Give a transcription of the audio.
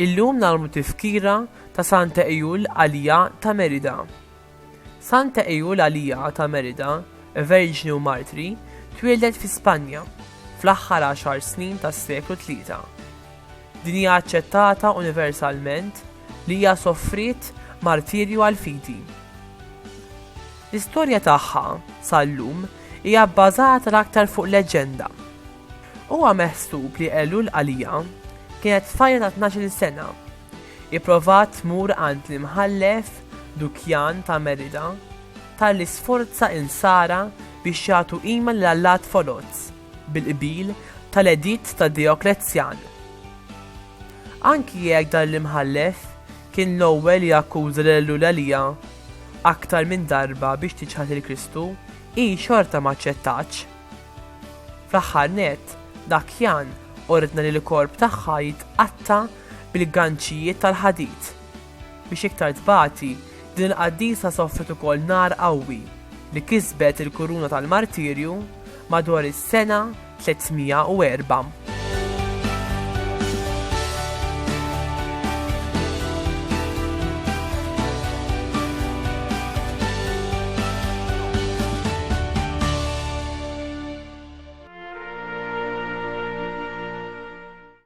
Illum nagħmlu tifkira ta' Santa Ejul Għalija ta' Merida. Santa Eulalia ta' Merida, Verġni u Martri, twieldet fi Spanja, fl-aħħar għaxar snin tas-seklu tlieta. Din hija aċċettata universalment li hija sofriet martirju għall-fidi. L-istorja tagħha, sal-lum, hija bbażata l-aktar fuq leġġenda. Huwa meħsub li Eulqalia kienet tfajla ta' tnax-il sena, Ipprova tmur għand l-Imħallef Dukjan ta' Merida talli sforza l-Nsara biex jagħtu qima lil allat foloz bil-qbil tal-editt ta' Dioklezzjan. Anki jekk dan l-Imħallef kien l-ewwel li akkuża lil Ewlalija aktar minn darba biex tiċħad lil Kristu, hi xorta ma aċċettatx. Fl-aħħar nett, Dakjan ordna li l-korp tagħha jitqatta' bil-ganċijiet tal-ħadid. Biex iktar tbati, din il-qaddisa sofret ukoll nar qawwi li kisbet il-kuruna tal-martirju madwar is-sena 304.